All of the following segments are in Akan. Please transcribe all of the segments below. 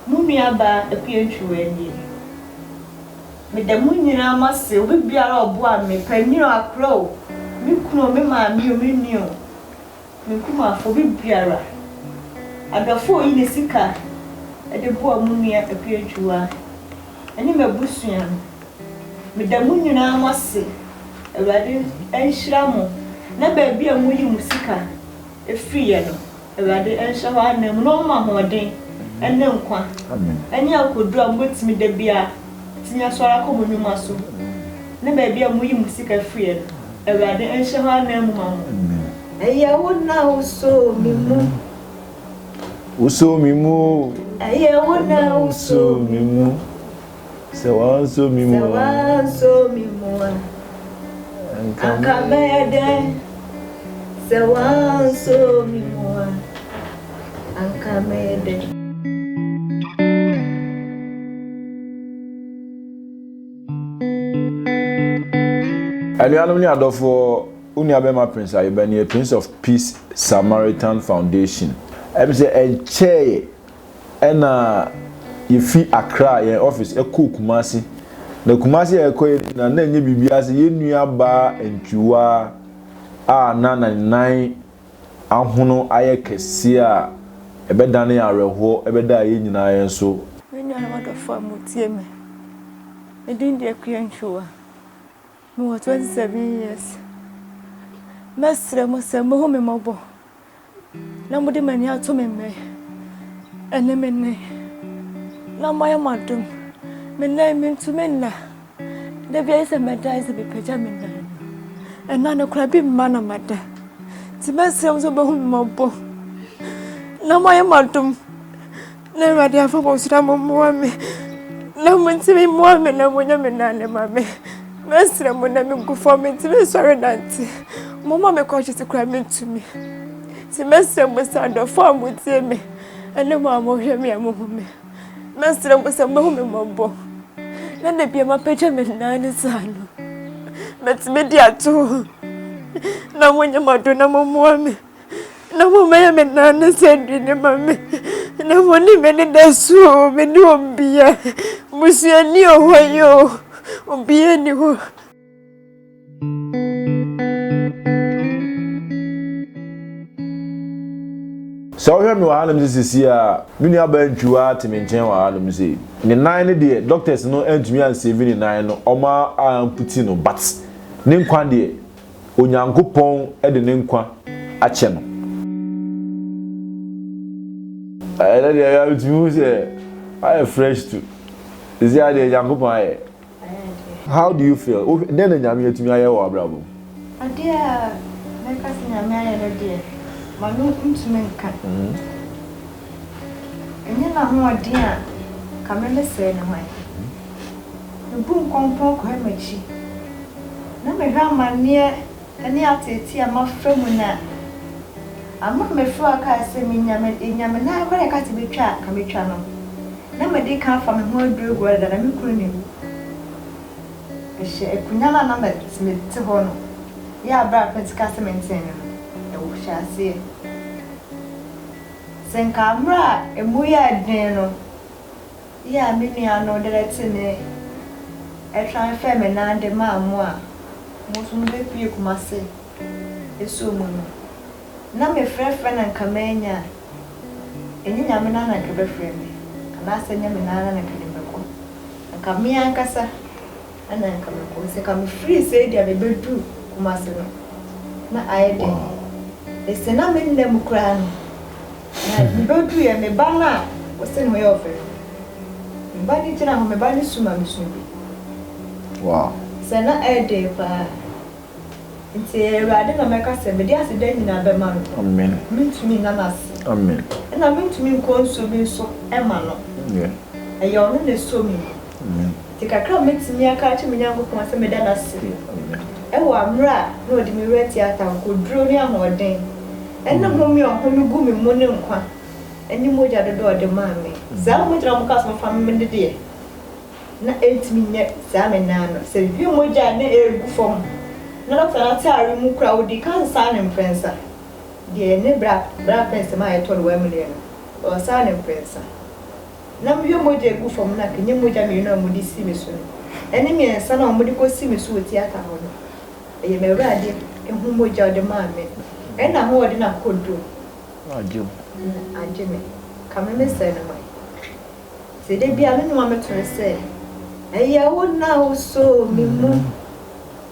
Mo nuabaa Akuantwiwaa nie. Meda mo nyinaa mo ase, obi biara a ɔboaa me, panin o, akora o, me kunu o, me maame o, me nua o, me nkumafoɔ, obi biara. Adɔfoɔ a ɔyi ne sika de boa mo nua Akuantwiwaa ne m'abusua no, meda mo nyinaa mo ase, Awurade nhyira mo na baabi a moyi mo sika firiiɛ no, Awurade nhyɛ hɔ ananmu na ɔmma ahoɔden ne nkwa ne akodu a mobɛtumi da biara atumi asɔre akɔ mo nnwuma so ne baabi a moyi mo sika firiɛ no, Awurade nhyɛ hɔ ananmu ma mo. Ɛyɛ wo na wosoo me mu. Wosoo me mu o. Ɛyɛ wo na wosoo me mu. Sɛ wɔansɔ me mu a. Sɛ wɔansɔ me mu a. Anka mɛyɛ dɛn? Sɛ wɔansɔ me mu a. Anka mɛyɛ dɛn? Anuanom ne adɔfo, wo nuabɛma Prince Ayobah nie, Prince of Peace Samaritan Foundation. Ɛm sɛ ɛnkyɛeɛ na yɛfi Accra, yɛn office, kɔɔ Kumasi. Na Kumasi a yɛkɔ yɛ na na ɛnyɛ biribiara sɛ yɛn nuabaa Antwiwa a na na ne nan ahono ayɛ kɛseɛ a ɛbɛdane awerɛhoɔ ɛbɛdaa yɛn nyinaa yɛn so. Me nuanom adɔfoɔ a motie me, me din de Akua Antwiwa. Mewɔ 27 years. Mɛsrɛ mo sɛ mohu me mmɔbɔ. Na mode mo ani ato me mmɛn ɛne me nne, na moayɛ mo adom me nan mentumi nna. Da bi ayɛ sɛ mɛda ayɛ sɛ mepagya me nan no, ɛna no koraa bi mma na mada nti mɛsrɛ m sɛ wobɛhu me mmɔbɔ na moayɛ mo adom. Na Awurade afa mo nsra mo mmoa me na mo ntumi mmoa me na mo nyɛ me nane ma me mɛsrɛ mo na me gu fɔ me ntumi nsɔre nante mo ma me kɔ kyete kora me ntumi nti mɛsrɛ mo sɛ adɔfo a mo tie me ɛne mo a mo hwɛ me a mo hu me mɛsrɛ mo sɛ mo hu me mɔbɔ na na bia ma pɛgya me nan ne saa no mɛtumi di ato na mo nyɛ mo ado na mo mmoa me na mommɛyɛ me naa ne sɛ aduane ma me na mone me ne da so o me ne obia busuani o hɔ yi o obia ni hɔ sɛ wohwɛ me wɔ hanom sɛ sisi a me nuabaa ntwiwa te me nkyɛn wɔ hanom sei ne nan no deɛ doctors no antumi ansave ne nan no ɔma amputi no but ne nkwa deɛ Onyankopɔn de ne nkwa akyɛ no. Ɛnɛ deɛ ɛyɛ tumi hu sɛ ayɛ fresh to ɛsi adeɛ Nyankopɔn ayɛ. How do you feel? Dɛn na Nyame atumi ayɛ wɔ abrabɔ? Adeɛ a mɛka sɛ Nyame ayɛ no deɛ, mano ntumi nka. Enye n'ahoɔden a nka me me sɛɛ no hwan? Mebu nkɔmpɔn kɔhwɛ m'akyi na mehwɛ amanneɛ ne ateetee a mafa mu no a, ama a mefrɛ a kae sɛ menya me enya me nan koraa a ɛka sɛ metwa a nka metwa no na mede kan afa me ho aduragua dada na me kunu ne wu. Ɛhyɛ akunya no a na mete hɔ no yɛ a bere a Pentecost Menten no no, ɛhyɛ aseɛ. Sɛ nka mmerɛ a ɛmu yɛɛ den no yɛ a me nua no de tene tran fɛɛ me nan de maa mo a mo nso mobɛpue Kumase asuo mu no, na mefrɛfrɛ na nka mannya a, ɛnyɛ Nyame no ara na nka ɛbɛfrɛ me, anaasɛ ɛnyɛ me no ara na nka ɛde me bɛkɔ. Nka me ankasa. na nka mɛkɔ ɔsɛ ka me firi sei deɛ me bɛ duru kumase no na ayɛ den ɛsɛ na me nna mu koraa no na me bɛ duru yɛ me ba no a ɔsɛ ne ho yɛ ɔfɛ no me ba no gyina ho me ba no su ma me su bi wow sɛ na ayɛ den paa nti awurade na mɛka sɛ mede ase da nyinaa bɛma no amen mentumi nna no ase amen ɛna mentumi nkɔ nsuo bi nso ɛma no yeah ɛyɛ ɔno na ɛsɔ me mu Dze kakra a mebetumi aka akyerɛ me Nyankopɔn sɛ meda no ase wɔ mber a nna ɔdze me werɛ tse atankoduro ne ahoɔden ne home a ɔhome gu me mu ne nkwa ne mogya dodoɔ a ɔde maa me. Saa a mogyina mo kaa so mofa me no deɛ na ɛntumi nyɛ saa me nan no sɛ hwɛ mogya a na ɛregu fam na dɔkta no ataare mu kura ɔdi ka nsaa ne mprɛnsa deɛ ne bra bra pɛnsɛm a ɛtɔ no wɔ amuneɛ no ɔsaa ne mprɛnsa. na mehwɛ mogya a egu fam no a, ɛnyɛ mogya mmienu a wɔde si me so no, ɛne mmiɛnsa no a wɔde kɔsi me so wɔ tiata hɔ no. Ɛyɛ m'Awurade ho mogya a ɔde maa me no, ɛne n'ahoɔden akodoɔ na agye me. Kame me sɛɛ no man. Nti da biara me nnwom a mɛto ne sɛ, Ɛyɛ wo na wosoo me mu,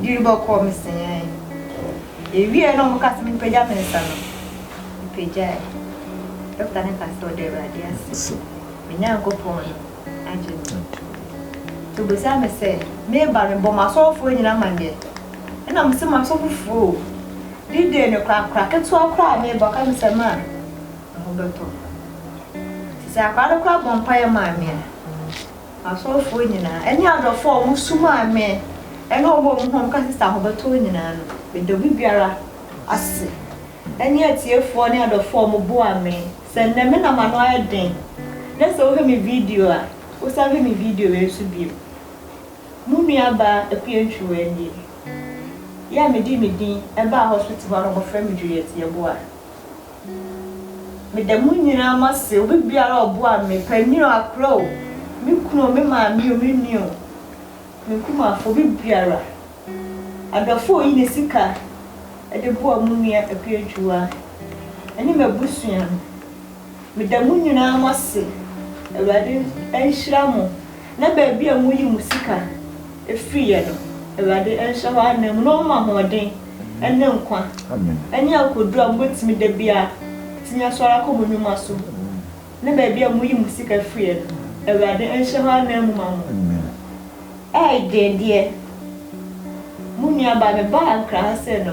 Dwiri bɔkɔɔ me sɛɛɛɛ. Ewiee na wɔka sɛ mempagya me nsa no, mepagyae. Dɔkta no kaa sɛ ɔda Awurade ase. Me Nyankopɔn no agye me. Nti obisaa me sɛ, Meba no, mebɔ m'asɔɔfoɔ nyinaa amaneɛ? Ɛna mese, M'asɔfofoɔ o, D-Day no koraa, akora ketewa koraa a meba, ɔka me sɛ, Ma, me ho bɛtɔ wo. Nti sɛ akora no koraa bɔ mpaeɛ maa me a, Asɔfoɔ nyinaa, ne adɔfoɔ a wɔsomaa me, ne wɔn a wɔn ho a wɔka Sister Ahobɛtoo nyinaa no, meda obi biara ase, ne atiefoɔ ne adɔfoɔ a wɔboaa me, sɛ nnɛ me na m'ano ayɛ den, na sɛ wohwɛ me video a, wosan hwɛ me video wei nso bio. Mo nuabaa Akua Ntwiwaa nie. Yɛ a medii me din baa hospital hɔ a na wɔfrɛ me Juliet Yeboah. Meda mo nyinaa mo ase, obi biara a ɔboaa me, panin o, akora o, me kunu o, me maame o, me nua o, me nkumafoɔ, obi biara. Adɔfoɔ a ɔyi ne sika de boa mo nua Apiagyua ne m'abusua no, meda mo nyinaa mo ase, Awurade nhyira mo. na baabi a moyi mo sika firi yɛ no, Awurade nhyɛ hɔ ananmu na ɔmma ahoɔden ne nkwa ne akoduro a mobɛtumi da biara tumi asɔre akɔ mo nnwuma so ne baabi a moyi mo sika firi yɛ no, Awurade nhyɛ hɔ ananmu ma mo. Ɛɛy deɛ deɛ mo nuabaa mebaa nkra ha sɛ no.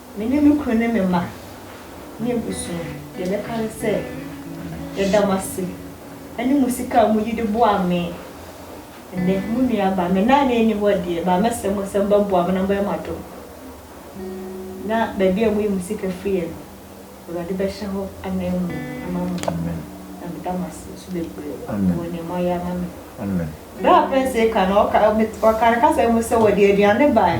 Me ne me kunu ne me mma ne abusua, deɛ mɛka ne sɛ, yɛda mo ase ne mo sika a moyi de boa me nnɛ. Mo nua ba, me nane nni hɔ deɛ, but mɛsrɛ mo sɛ mobɛboa me na mobɛyɛ mo adom na baabi a moyi mo sika firiɛ no, Awurade bɛhyɛ hɔ ananmu ama mo. Na meda mo ase nso bebree wɔ deɛ moayɛ ama me. Berɛ a Prince reka no, ɔka, ɔka ne kasa mu sɛ wɔde aduane baeɛ.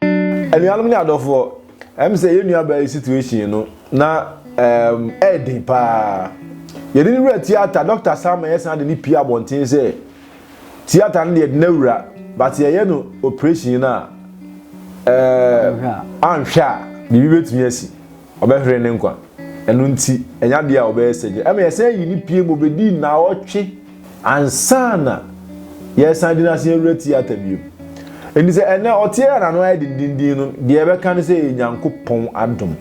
Anuanom ne adɔfoɔ, ɛm sɛ yɛn nuabaa yi situation no na ɛɛm ɛɛden paa. Yɛde ne wura theatre, Dɔkta Sama yɛsan de ne pie abɔnten sɛ theatre no deɛ yɛde no awura but yɛyɛ no operation no a ɛɛm anhwɛ a biribi bɛtumi asi. Ɔbɛhwere ne nkwa. Ɛno nti, ɛnyɛ adeɛ a ɔbɛyɛ sɛ gye. Ɛma yɛsan yii no pue ma ɔbɛdii nnawɔtwe ansa na yɛresan de no asan awura tiata bio. Enti sɛ ɛnnɛ ɔteɛ a n'ano ayɛ dendenden no, deɛ ɛbɛka ne sɛ ɛyɛ Nyankopɔn adom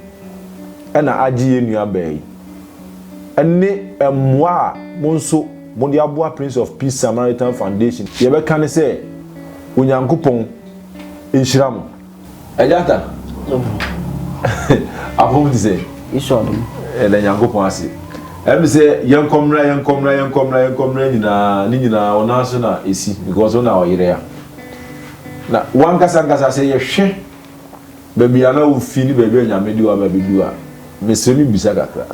na agye yɛn nuabaa yi ne mmoa a mo nso mode aboa Prince of Peace Samaritan Foundation. Deɛ ɛbɛka ne sɛ Onyankopɔn nhyira mo. Agyata, apɔw te sɛ. Esau no mu. Ɛda Nyankopɔn ase. Ɛm sɛ yɛnkɔ mmra yɛnkɔ mmra yɛnkɔ mmra yɛnkɔ mmra nyinaa ne nyinaa ɔnan so na esi because ɔna ɔyere ya. Na wankasa nkasa sɛ yɛhwɛ baabi a na wofi ne baabi a Nyame de waba bɛdu a mesrɛ me bisa kakra.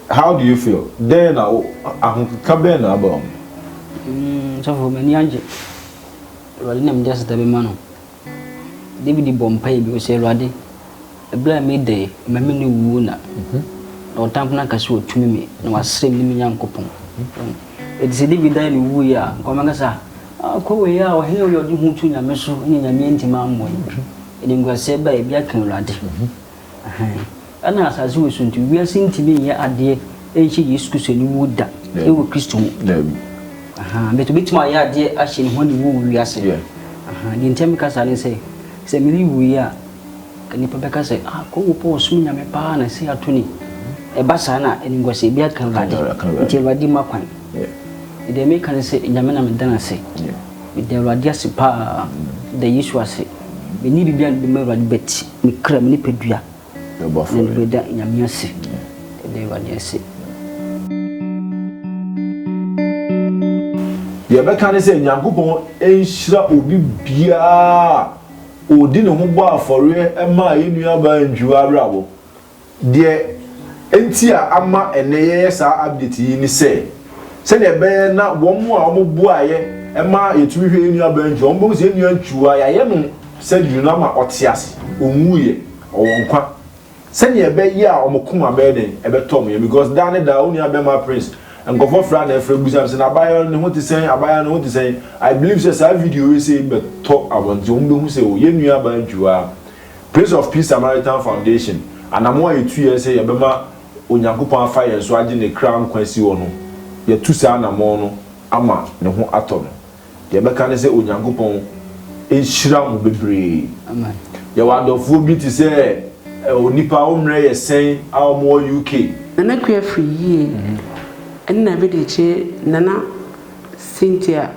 How do you feel? Dɛn na ahokeka bɛn na aba wo mu? Mm, sɔfo m'ani agye. Awurade nam de aseda bɛma no. Dawid bɔɔ mpae bio sɛ, Awurade, bere a me de ma me nne wuo na ɔtamfo no aka sɛ watumi me, na wasɛe me ne me Nyankopɔn. Enti sɛ Dawid dae no wui a, anka wɔbɛka sɛ, Ah, kɔ wei a, ɔhene a ɔyɛ ɔde hu to nyame so, ɛnna nyame antumi ammɔ no. Animguaseɛ bɛn? Ebi aka Awurade. Ahaa. Ɛna asase woso nti wiase ntumi nyɛ adeɛ nhyɛ Yesu Kristo aniwuo da wɔ Kristo mu. Daabi. Ahaa, but obɛtumi ayɛ adeɛ ahyɛ ne ho aniwuo wɔ wiase. Yeah. Ahaa, deɛ nti a meka saa ne sɛ, sɛ Milly wuiɛ a, ka nnipa bɛka sɛ, ah, Kongo Paul ɔsom Nyame paa na sei ato ni. Ɛba saa na animguaseɛ bi aka Awurade. Aka Awurade, aka Awurade. Nti Awurade mma kwan. Yeah. Me deɛ meka ne sɛ, Nyame na meda no ase. Yeah. Meda Awurade ase paa. Meda Yesu ase. Menni biribi a mede bɛma Awurade but Ne kra mu nipadua. Na ɔbɔ afɔre. Na bɛda Nyame ase. Bɛda Awurade ase. Deɛ ɛbɛka ne sɛ Nyankopɔn nhyira obi biara a ɔdi ne ho bɔ afɔreɛ maa yɛn nuabaa Njuo Awerabɔ Deɛ enti a ama ɛnnɛ yɛyɛ saa update yi ne sɛ, sɛdeɛ ɛbɛyɛ na wɔn a wɔboaeɛ ma yɛtumi hwɛ yɛn nuabaa Ntwi, wɔbɛhu sɛ yɛn nua Ntwi a yɛayɛ no surgery no ama ɔte ase, ɔnwuiɛ, ɔwɔ nkwa. Sɛdeɛ ɛbɛyɛ a wɔn koma bɛyɛ dɛn? Ɛbɛtɔ wɔn yam because daa ne daa wo nuabɛrima Prince, nkurɔfoɔ frɛ a na ɛfrɛ bisa me sɛ, na abaayewa no ne ho te sɛn, abaayewa no ne ho te sɛn? I believe sɛ saa video wei sei bɛtɔ wɔn nti wɔbɛhu sɛ o, yɛn nuabaa Ntwi a Prince of Peace Samaritan Foundation, Anammɔn a yɛtuiɛ sɛ yɛbɛma Onyankopɔn afa yɛn so agye ne kra nkwa asi hɔ no, yɛatu saa anammɔn no ama ne ho atɔ no. Deɛ yɛbɛka ne sɛ Onyankopɔn nhyira mo bebree. Amen. Yɛwɔ adɔfoɔ bi te sɛ onipa a wo mmerɛ yɛ sɛn a wɔwɔ UK. Nana Kuafri yie ɛne Nabedekye Nana. Cynthia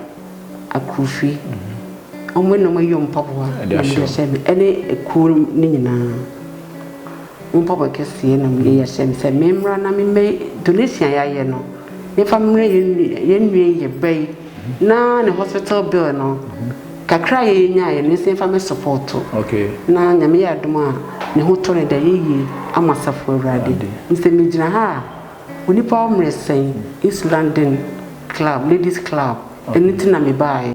Akufi, wɔn na wɔayɔ mpaboa na wɔde ahyɛ me ne kuo no nyinaa. Wɔn mpaboa kɛseɛ na wɔde ahyɛ me sɛ memmra na memmɛ donation a yɛayɛ no memfa mmerɛ yɛn nua yi yɛ ba yi na ne hospital bill no kakra a yɛnyaeɛ no nso yɛmfa mɛ support na Nyame yɛ adom a ne ho tɔ ne da yɛyie ama Asafo Awurade. Mesɛ megyina ha a Onipa wo mmerɛ sɛn? East London club, ladies club, ɛno nti na me baeɛ.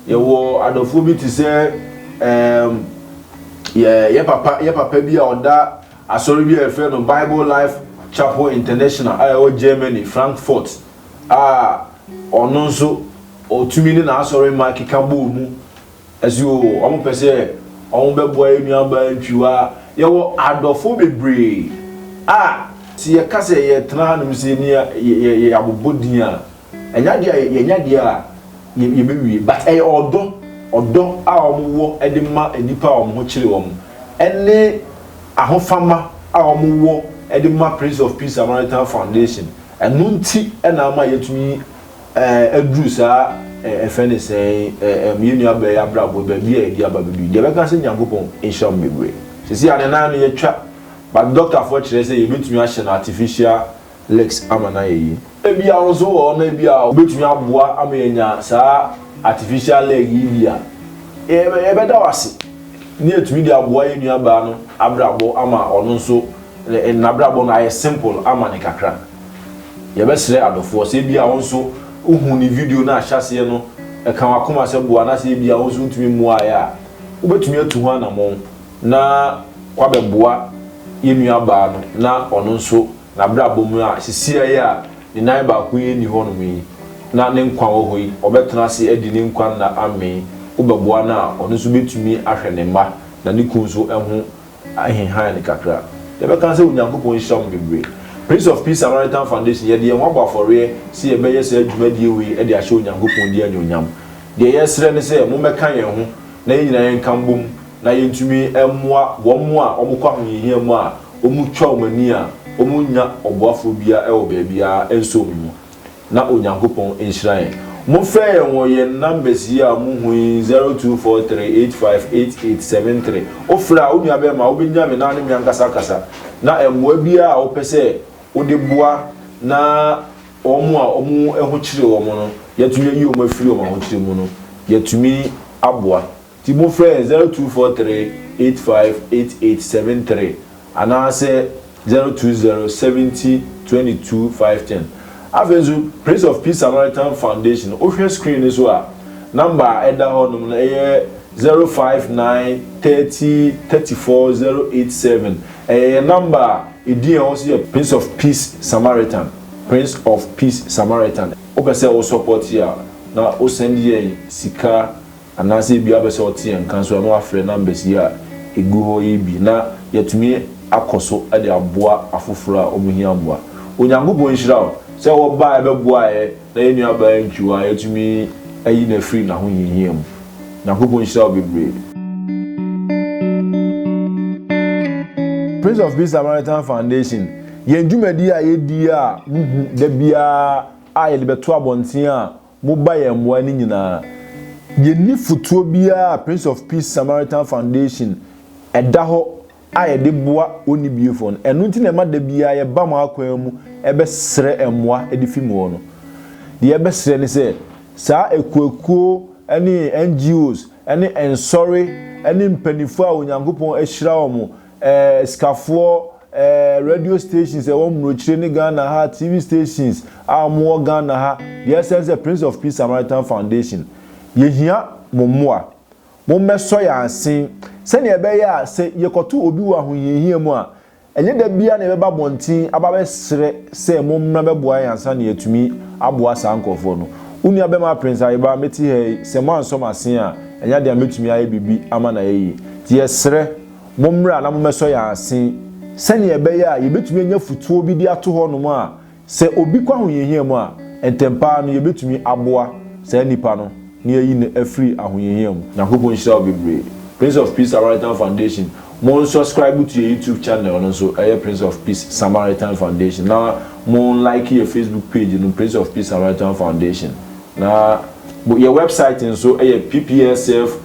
Yɛwɔ adɔfoɔ bi te sɛ um, yɛ, yɛ papa yɛ papa bi a ɔda asɔre bi a yɛfrɛ no Bible Life Chapel International a ɛwɔ Germany, Frankfurt, a ɔno nso ɔtumi ne n'asɔremma keka bɔɔ mu ɛse o ɔmo pɛ sɛ ɔmo bɛboa yɛ nuabaa ntwiwa yɛwɔ adɔfo bebree a sɛ yɛka sɛ yɛtena hanom sɛ ni yɛ abobɔ din a ɛnyɛ adeɛ a yɛnyɛ adeɛ a yɛbɛwie but ɛyɛ ɔdɔ ɔdɔ a ɔmo wɔ ɛde ma nnipa a ɔmo ho kyere ɔmo ɛne ahofama a ɔmo wɔ ɛde ma Prince of Peace Samaritan Foundation Ɛno nti na ama yɛatumi aduru saa ɛfɛ ne sɛn ɛm yɛn nua bɛɛ abrabɔ baabi a yɛde aba bɛduru deɛ bɛka sɛ Nyankopɔn nhyira mo bebree sɛsi a ne nan no yɛtwa but doctor foɔ kyerɛ sɛ yɛbɛtumi ahyɛ no artificial legs ama no ayɛ yie ebi a wo nso wɔ hɔ no ebi a wobɛtumi aboa ama yɛanya saa artificial leg yi bi a yɛbɛda wo ase ne yɛtumi de aboa yɛn nua baa no abrabɔ ama ɔno nso Ne nabrabɔ no ayɛ simple ama no kakra. Yɛbɛsrɛ adɔfoɔ sɛ ebia wo nso wohuu ne video no a ahyɛaseɛ no ɛka w'akoma sɛ boa no asɛ ebia wo nso wontumi mmuaaeɛ a, wobɛtumi atu ho anamɔn na woabɛboa yɛn nuabaa no na ɔno nso nabrabɔ mu a sesiaa yi a ne nan baako yi nni hɔnom yi na ne nkwa wɔ hɔ yi ɔbɛtena ase adi ne nkwa nna amee. Wobɛboa no a ɔno nso bɛtumi ahwɛ ne mma na ne kunu nso ho Ahenhan no kakra. Yɛbɛka sɛ Onyankopɔn nhyira mo bebree. Prince of Peace Samaritan Foundation, yɛde yɛn ho abɔ afɔreɛ sɛ yɛbɛyɛ saa dwumadie wei de ahyɛ Onyankopɔn din anuonyam. Deɛ yɛsrɛ ne sɛ mommɛka yɛn ho na yɛn nyinaa yɛnka mbom na yɛntumi mmoa wɔn a wɔkɔ ahohiahia mu a wɔtwa wɔn ani a wɔnnya ɔboafoɔ biara wɔ baabiara nso wɔn mu. na Onyankopɔn nhyira yɛn. Mofrɛ yɛn wɔ yɛn numbers yi a muhu yi, zero two four three eight five eight eight seven three. Wofrɛ a, wo nua bɛrima, wobɛnya me na ne me ankasa akasa. Na mmoa biara a wopɛ sɛ wode boa na wɔn a wɔn ho kyere wɔn no, yɛatumi ayi wɔn afiri wɔn ahokyere mu no, yɛatumi aboa. Nti mo frɛ zero two four three eight five eight eight seven three anaa sɛ zero two zero seventy twenty two five ten. Afei nso Prince of Peace Samaritan Foundation wo hwɛ screen no so a number a ɛda hɔ nom no ɛyɛ zero five nine thirty thirty four zero eight seven ɛyɛ yɛn number a edin ɛwɔ so yɛ Prince of Peace Samaritan Prince of Peace Samaritan wo pɛ sɛ wo support yɛ a na wo send yɛn sika. Anaasɛ ebia wobɛpɛ sɛ wote yɛn nka nso a na woafrɛ numbers yi a ɛgu hɔ yi bi na yɛatumi akɔ so de aboa afoforɔ a wɔhia mmoa. Onyankopɔn nhyira wo sɛ wobaeɛ bɛboaeɛ na yɛn nuabaa Nkiwa yɛatumi ayi no afiri n'ahohiahia mu. Nyankopɔn nhyira wo bebree. Prince of Peace Samaritan Foundation, yɛn dwumadie a yɛdi a mohu da biara a yɛde bɛto abɔnten a, Moba yɛn mmoa no nyinaa. Yɛnni fotuo biara a Prince of Peace Samaritan Foundation da hɔ a yɛde boa onnibiefoɔ no. Ɛno nti na ɛma da biara yɛba mo akwan mu bɛsrɛ mmoa de fi mo hɔ no. Deɛ yɛbɛsrɛ ne sɛ, saa akuakuo ne NGOs ne nsɔre ne mpaninfoɔ a Onyankopɔn ahyira wɔn, eh, sikafoɔ, eh, radio stations a ɛwɔ mmurokyire ne Ghana ha, TV stations a wɔn wɔ Ghana ha, deɛ ɛsɛn sɛ Prince of Peace Samaritan Foundation, yɛhia mo mmoa. Mo mmɛsɔ yɛn asen sɛdeɛ ɛbɛyɛ a sɛ yɛkɔto obi wɔ ahohiahia mu a, ɛnyɛ da biara na yɛbɛba abɔnten aba abɛsrɛ sɛ mo mmra bɛboa yɛn ansa na yɛatumi aboa saa nkorɔfoɔ no. Wo nua bɛma Prince Ayeba, mete ha yi, sɛ moansɔ m'asen a, ɛnyɛ adeɛ a mɛtumi ayɛ biribi ama no ayɛ yie. Nti yɛsrɛ. Mommra na mommɛsɔ yɛn ase sɛnea ɛbɛyɛ a yebetumi anya afotuo bi de ato hɔnom a sɛ obi kɔ ahohiahia mu a, ntɛmpa ara no yebetumi aboa saa nipa no na yɛayi no afiri ahohiahia mu. Nyankopɔn nhyira wo bebree. Prince of Peace Samaritan Foundation, mo unsubscribe to yɛ YouTube channel no nso, ɛyɛ Prince of Peace Samaritan Foundation, na mo unlike yɛ Facebook page no, Prince of Peace Samaritan Foundation, na yɛ website nso yɛ pplsf.